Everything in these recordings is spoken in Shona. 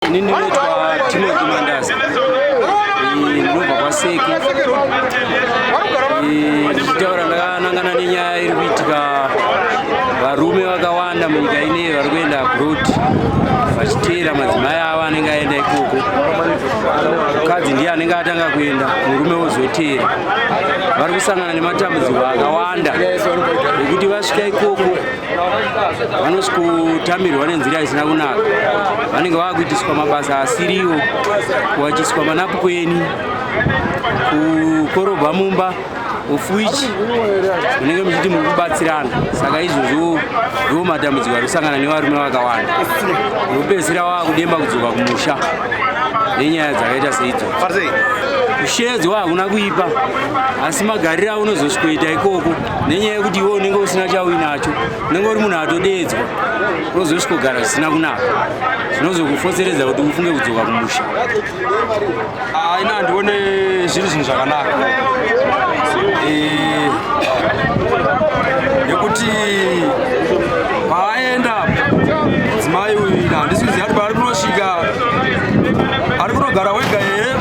Ini ndinoitwa Timothy Mandaza. Ndinobva kwaSeke. Ndichitaura ndakanangana nenyaya iri kuitika varume vakawanda munyika ineyi vari kuenda abroad vachiteera madzimai avo anenge aenda ikoko. Mukadzi ndiye anenge atanga kuenda, murume wozoteera. Vari kusangana nematambudziko akawanda ekuti vasvika ikoko vanoti kutamirwa nenzira isina kunaka vanenge vakuitiswa mabasa asiriwo kuwachiswa manapukweni kukorobha mumba of which munenge muchiti muri kubatsirana saka izvozvo ndiwo matambudziko ari kusangana nevarume vakawanda vopedzisira wava kudemba kudzoka kumusha nenyaya dzakaita seidzo kushedzwa hakuna kuipa asi magariro aunozosvikoita ikoko nenyaya yekuti iwe unenge usina chauinacho unenge uri munhu atodeedzwa unozosvikogara zvisina kunaka zvinozokufotseredza kuti ufunge kudzoka kumusha aina ah, handione zviri zvinhu zvakanaka eh, nekuti paaenda mudzimai uyu ina handisiziva kuti paari kunosvika ari kunogara wega here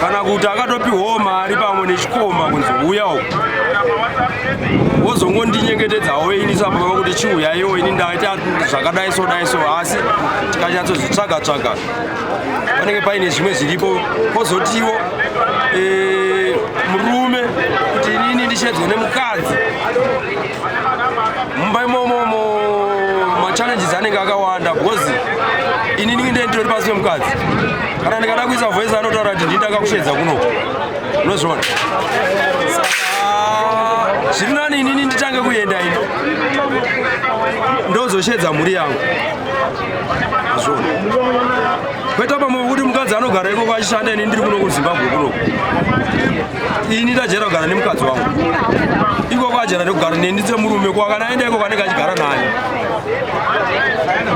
kana kuti akatopiwawo mari pamwe koma kunzi uya uko wozongondinyengetedzawo ini sapa vava kuti chiuyaiwo ini ndaita zvakadai so dai so asi tikanyatsozvitsvaga tsvaga panenge paine zvimwe zviripo kozotiwo eh, murume kuti inini ndichedzwe nemukadzi mumba imomomo machallenges anenge akawanda because inini ndinenge nditori pasi pemukadzi kana ndikada kuisa voice anotaura kuti ndini ndakakushedza kunoko unozviona zviri nani inini nditange kuenda ino ndozoshedza mhuri yangu azvona kweta pamwe kuti mukadzi anogara ikoko achishanda ini ndiri kuno kuzimbabwe kunoku ini ndajera kugara nemukadzi wangu ikoko ajera nekugara neni ndise murume kwakana aenda ikoko anenge achigara naye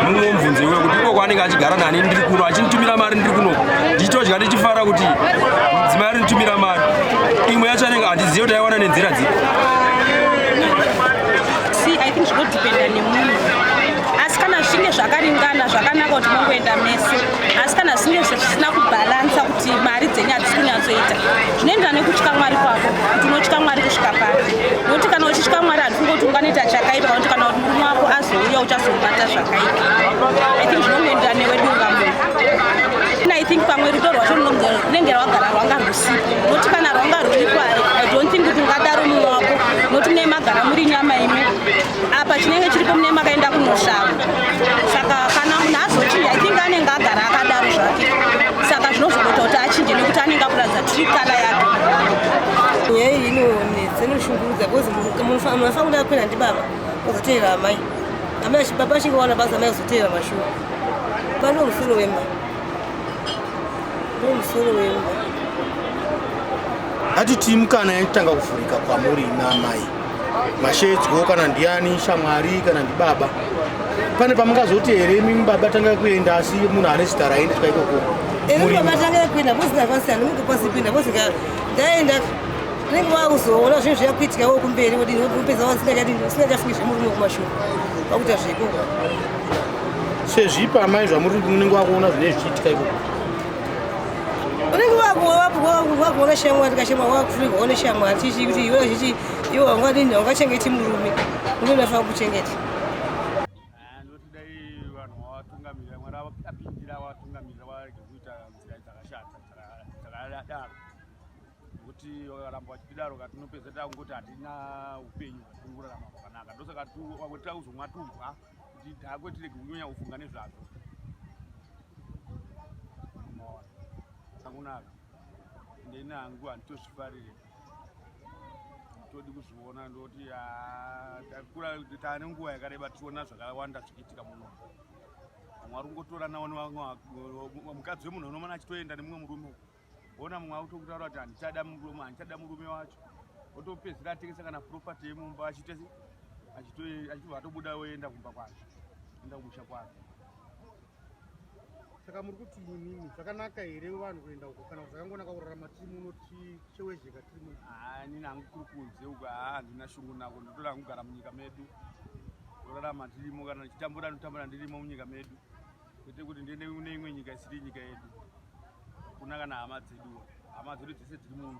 mumwe mubvunzo iwe kuti iko kwaanenge achigara nani ndiri kuno achinditumira mari ndiri kuno ndichitodya ndichifara kuti mudzimai arinditumira mari imwe yacho anenge handizive kuti aiwana nenzira dzipi zvinodhipenda nemunhu asi kana zvichinge zvakaringana zvakanaka kuti mongoenda mese asi kana zvinge zvisina kubhalansa kuti mari dzenyu hadzisi kunyatsoita zvinoenderana nekutya mwari kwako kuti unotya mwari kusvika pari nokuti kana uchitya mwari handifunge kuti unganoita chakaipa kuti kana kuti murume wako azouya uchazomubata zvakaipa i think zvinongoenderana newe dunga munhu i think pamwe rudo rwacho runenge rwagara rwanga rwusipo nokuti kana rwanga rwuripo i don't think kuti ungadaro mumwe wako nokuti nemagara muri nyama imwe apa chinenge chiripo mune makaenda kunoshava saka kana munhu azochinja i think anenge agara akadaro zvake saka zvinozogota kuti achinje nekuti anenge akuratidza tri kala yake nyaya iyi inonetsa inoshungurudza bcause munhu afanira kuda kuenda ndibaba ozoteera amai amai baba achinge waona basa amai azoteera mashuwa pano musoro wemba no musoro wemba hatiti mukana yatanga kuvhurika kwamuri naamai mashedzwo kana ndiani shamwari kana ndibaba pane pamungazoti here imimi baba tanga kuenda asi munhu ane zita raendeswa ikoko vatanga kuenda vosina vasiyana munge kwasi kuenda vosika ndaenda unenge wakuzoona zvinhu zviyakuitika wo kumberi wodini wopedza wasingachafungi zvemurume kumashure wakuita zveikoko sezvipa amai zvamuri unenge wakuona zvine zvichiitika ikoko unenge wakuona shamwari kashema wakufurirwa one shamwari tichi kuti iwe zvichi iwe wangadini wangachengeti murume murume unafanira kuchengeta kuti vakaramba vachitidaro ka tinopedza takungoti hatina upenyu hwatingurarama hwakanaka ndosaka wakuti takuzomwa tubwa ndidhakwe tirege kunyanya kufunga nezvazvo akunaka ndeni hangu handitozvifarire todi kuzviona ndoti ah, takura taane nguva yakareba tiona zvakawanda zvichiitika muno mwari ungotorana mukadzi wemunhu unomana achitoenda nemumwe murume Ona mumwe akutokutaura kuti handichada murume, handichada murume wacho. Otopedzisira atengesa kana property yemumba achite achitobva atobuda oenda kumba kwake, enda kumusha kwake. Saka muri kuti inini zvakanaka here vanhu kuenda uko kana zvakangonaka kurarama tiri muno tichewezheka tiri muno? Haa, inini hangu kuri kunze uko, haa, handina shungu nako, ndotoda hangu kugara munyika medu, kurarama tirimo, kana ndichitambura ndotambura ndirimo munyika medu. kwete kuti ndiende kune imwe nyika isiri nyika yedu kuna kana hama dzeduwa hama dzedu dzese dziri muno